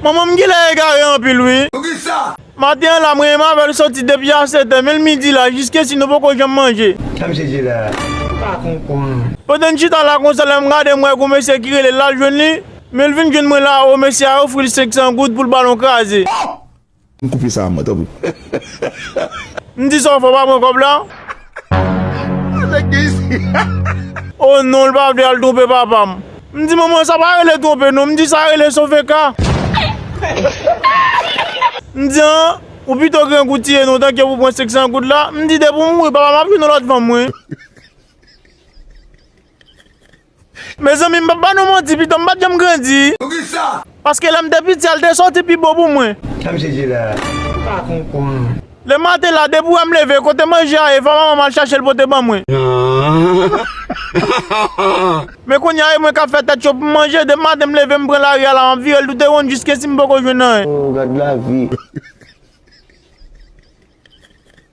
Manman m genlè egare anpil wi. Poukisa? Maten an la mwen em avèl soti depi a 7 è menl midi la jiskesi nou poko janm manje. Sa misye di la ou pa konprann. Pandan n chita la konsa lèm gade m wè gon mesye ki rele l lal jwenn li menl vin jwenn mwen la o mesye a ofril 500 goud poul balon kraze. Ohh! M koupe sa a man tanpri. M di sa w fè w pa pran kòb la. Sa nèg gen isit. O non l pa vle al twonpe papa m. M di manman sa pa rele twonpe non m di sa rele sove ka. M di an ou pito grangou tiye non tanke pou pran 500 goud la. M di depi w mouri papa m ap jwenn yon lòt fanm wi. Mezanmi m pap ba nou manti pitom pat janm grandi. Poukisa? Paske lèm te piti a li te soti pi bo pou mwen. Tanm sezi la m pa konpwan. Le maten la depi wèm leve kote manje a ye fò manmanm al chachel pote ban mwen. Men kounya e mwen kap fè tèt cho poum manje depi maten m leve m pran lari a la map virel toute wonn jiskesi m poko jwenn anyen. Oh gad lavi.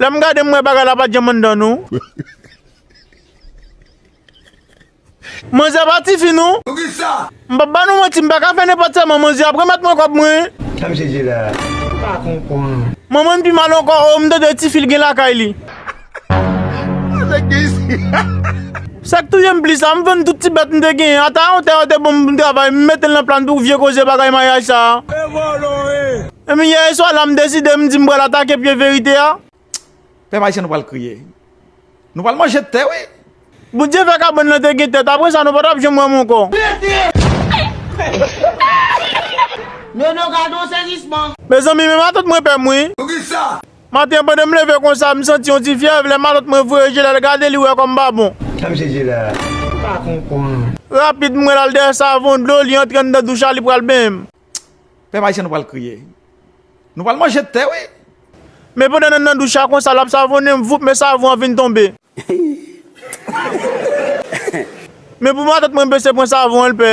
Lèm gade m wè bagay la pat janm anndan nou. Manzè pa tifi non. Poukisa? M pap ba nou manti m paka fè nenpòt sèman manzè ap remèt mwen kòb mwen. Tanm sezi la m pa konprann. Manman n pi mal ankò oo m tande tifi l gen lakay li. Sa nèg gen isi. Sak touyem plis la m vann tout ti bèt m te genyen ata yon tè yo te banm pou m travay m metel nan plan pou vye koze bagay maryaj sa. Epi yè e swa la m deside m di m pral atake pye verite a. Pèp ayisyen nou pral kriye. Nou pral manje tè wi. Bondye fè kabann lan te gen tèt apre sa nou pa tap janm wè m ankò. Nono gadon sezisman. Mezanmi men matant mwen pèm wi. Poukisa? Maten an pandan m leve konsa m santi yon ti fyèv lè matant mwen voye je l al gade li wè kòm pa bon. Nan m chèche la pa konprann. Rapid m wè l al dèyè savon dlo li antre anndan douch la li pral benyen m. Pèp ayisyen nou pral kriye. Nou pral manje tè wi. Men pandan nan nan douche a konsa lap savonem voup men savon an vin tonbe. Men pou matant mwen bese pran savon an l pè.